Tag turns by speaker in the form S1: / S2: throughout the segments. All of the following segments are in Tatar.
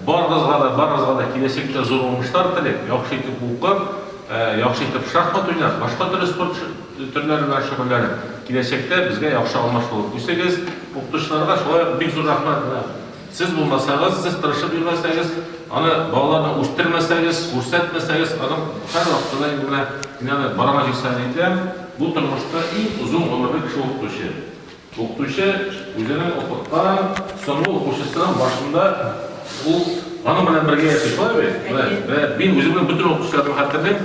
S1: Барыгызга да, барыгызга да киләчәктә зур уңышлар телим. Яхшы итеп укып, яхшы итеп шахмат уйнап, башка төрле спорт төрләре белән шөгыльләнеп, киләчәктә безгә яхшы алмаш булып үсегез. Укытучыларга шулай ук бик зур рәхмәт. Менә сез булмасагыз, сез тырышып йөрмәсәгез, аны балаларны үстермәсәгез, күрсәтмәсәгез, аның һәрвакыт та инде менә мин аны балама җиксән әйтәм, бу тормышта иң озын гомерле кеше укытучы. Укытучы үзенең укыткан соңгы укучысының башында ул аның белән бергә яши, шулай бит? Менә, менә мин үземнең бөтен укытучыларымны хәтерлим,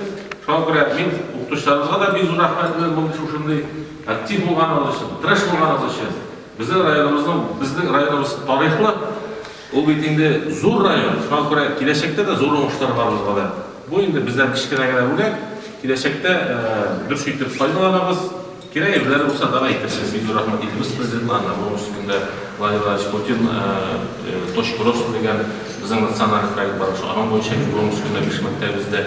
S1: шуңа күрә мин укытучыларыбызга да бик зур рәхмәт белән мондый шушындый актив булганыгыз өчен, тырыш булганыгыз өчен. Безнең районыбызның, безнең районыбыз тарихлы, ул бит инде зур район, шуңа күрә киләчәктә дә зур уңышлар барыбызга да. Бу инде бездән кечкенә генә бүләк, киләчәктә дөрес итеп файдаланабыз. Кирәк ирләр булса, тагы әйтерсез. Бик зур рәхмәт илебез Президентына, Нәврүз көндә Владимир Владимирович Путин Точкуровск дигән безнең националь проект бар шул, аның буенча Нәврүз көндә биш мәктәбебездә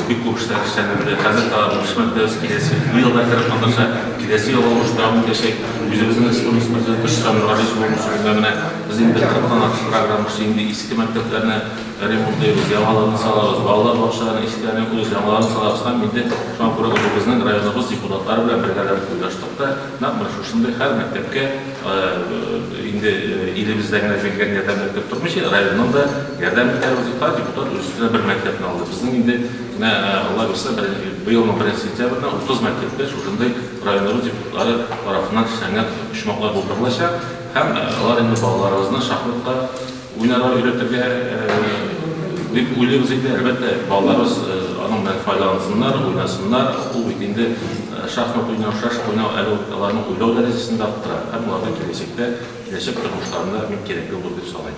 S1: бик күп эшләр эшләнелде. Хәзер тагы биш мәктәбебез киләсе ел да кереп маташа, киләсе ел уңыш дәвам итәчәк. Үзебезнең республикабыз Президенты Рөстәм Миңнегали Зур уңыш көндә менә без инде кырыктан артык программа эшли, инде иске мәктәпләрне Ремонтлыйбыз, яңаларын салабыз, балалар бакчаларының ишекләренә күз, яңаларын салабыз һәм инде шуңа күрә үзебезнең районыбыз депутатлары белән бергәләп уйлаштык та, нәкъ менә шушындый һәр мәктәпкә инде илебездә генә җиңгән ярдәм мәктәп тормыйча, районның да ярдәм итәрбез дип, һәр депутат үз өстенә бер мәктәпне алды. Безнең инде менә Алла бирсә, быелның беренче сентябренә 30 мәктәптә шушындый районыбыз депутатлары тарафыннан чәчәннәр, почмаклар булдырылачак һәм алар инде балаларыбызны шахматка, Уйнарга өйрәтергә дип уйлыйбыз инде. Әлбәттә, балаларыбыз аның белән файдалансыннар, уйнасыннар. Ул бит инде шахмат уйнау, шашка уйнау әле үк аларның уйлау дәрәҗәсен дә арттыра һәм аларның киләчәктә, киләчәк тормышларында бик кирәкле булыр дип саныйм.